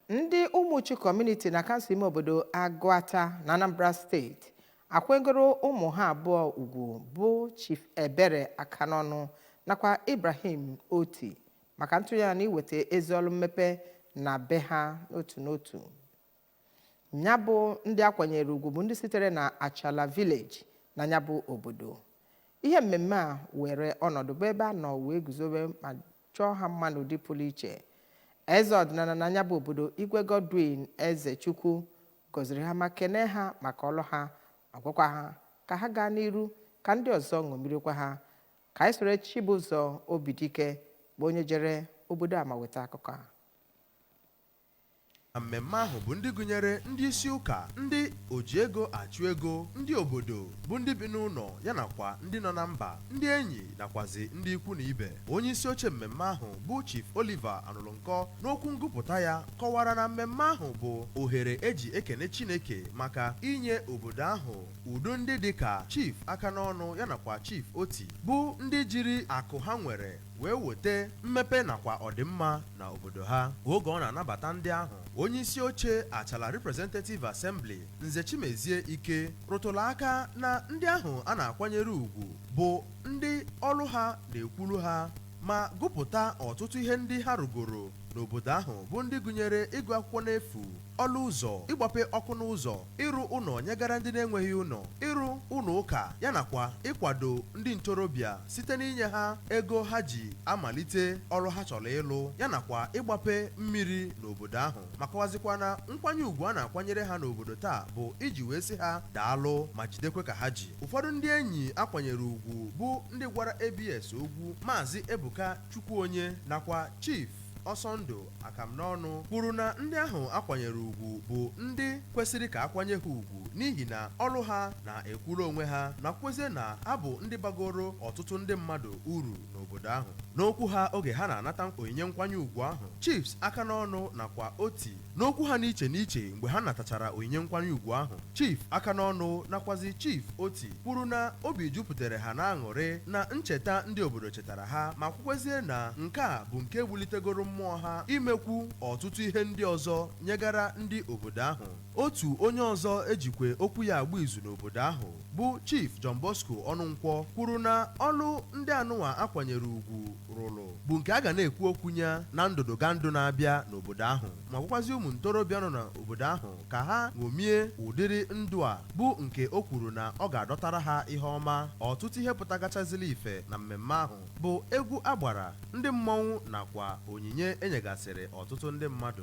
ndị ụmụchu kọmuniti na kansụl ime obodo agụata na anambra steeti akwanyegoro ụmụ ha abụọ ugwu bụ chief ebere akanọnụ nakwa ibrahim oti maka ntụnye na iweta ezi ọrụ mmepe na be ha n'otu n'otu nya bụ ndị akwanyere ugwu bụ ndị sitere na achala vileji na nya bụ obodo ihe mmemme a were ọnọdụ bụ ebe a nọ wee guzobe ma chọọ ha mma n'ụdị pụrụ iche. Eze ọdịnala na nya bụ obodo Igwe Godwin Ezechukwu gọziri ha ma kenee ha maka ọlụ ha ma gwakwa ha ka ha gaa n'iru ka ndị ọzọ ṅomirikwa ha. Ka anyị soro Chibụzọ Obidike bụ onye jere obodo a ma weta akụkọ a. na mmemme ahụ bụ ndị gụnyere ndị isi ụka, ndị oji ego achụ ego, ndị obodo, bụ ndị bi n'ụnọ ya nakwa ndị nọ na mba, ndị enyi nakwazi ndị ikwu na ibe. Onye isi oche mmemme ahụ bụ Chief Oliver Anụlụnkọ n'okwu ngụpụta ya kọwara na mmemme ahụ bụ ohere eji ekene Chineke maka inye obodo ahụ ụdị ndị dị ka Chief Akanọnụ ya nakwa Chief Oti bụ ndị jiri akụ ha nwere wee weta mmepe nakwa ọdịmma na obodo ha oge ọ na-anabata ndị ahụ onye isi oche achala representative assembly nze chimezie ike rụtụrụ aka na ndị ahụ a na-akwanyere ugwu bụ ndị ọlụ ha na-ekwuru ha ma gụpụta ọtụtụ ihe ndị ha rụgoro n'obodo ahụ bụ ndị gụnyere ịgụ akwụkwọ n'efu ọlụ ụzọ, ịgbape ọkụ n'ụzọ, ịrụ ụnọ nyegara ndị na-enweghị ụnọ, ịrụ ụnọ ụka ya nakwa ịkwado ndị ntorobịa site n'inye ha ego ha ji amalite ọlụ ha chọrọ ịlụ ya nakwa ịgbape mmiri n'obodo ahụ ma kọwazikwa na nkwanye ugwu a na-akwanyere ha n'obodo taa bụ iji wee sị ha daalụ ma jidekwe ka ha ji ụfọdụ ndị enyi akwanyere ugwu bụ ndị gwara ABS okwu maazị Ebuka Chukwuonye nakwa Chief Ọsọndụ akanọnụ kwuru na ndị ahụ akwanyere ugwu bụ ndị kwesịrị ka akwanye ha ugwu n'ihi na ọlụ ha na-ekwuru onwe ha nakwezie na ha bụ ndị bagoro ọtụtụ ndị mmadụ uru n'obodo ahụ n'okwu ha oge ha na-anata onyinye nkwanye ugwu ahụ chiefs akanọnụ nakwa oti n'okwu ha n'iche n'iche mgbe ha natachara onyinye nkwanye ugwu ahụ chief akanọnụ nakwazi chief oti kwuru na obi jupụtara ha na aṅụrị na ncheta ndị obodo chetara ha ma kwukwezie na nke a bụ nke wulitegoro mmụọ ha imekwu ọtụtụ ihe ndị ọzọ nyegara ndị obodo ahụ otu onye ọzọ ejikwe okwu ya agba izu n'obodo ahụ bụ Chief John Bosco Ọnụnkwọ kwuru na ọlụ ndị anụnwa akwanyere ugwu rụrụ bụ nke a ga na-ekwu okwu ya na ndụdụgandụ na-abịa n'obodo ahụ ma gwakwazi ụmụ ntorobịa nọ n'obodo ahụ ka ha ṅomie ụdịrị ndụ a bụ nke o kwuru na ọ ga-adọtara ha ihe ọma ọtụtụ ihe pụtagachazili ife na mmemme ahụ bụ egwu agbara ndị mmọnwụ nakwa onyinye enyegasịrị ọtụtụ ndị mmadụ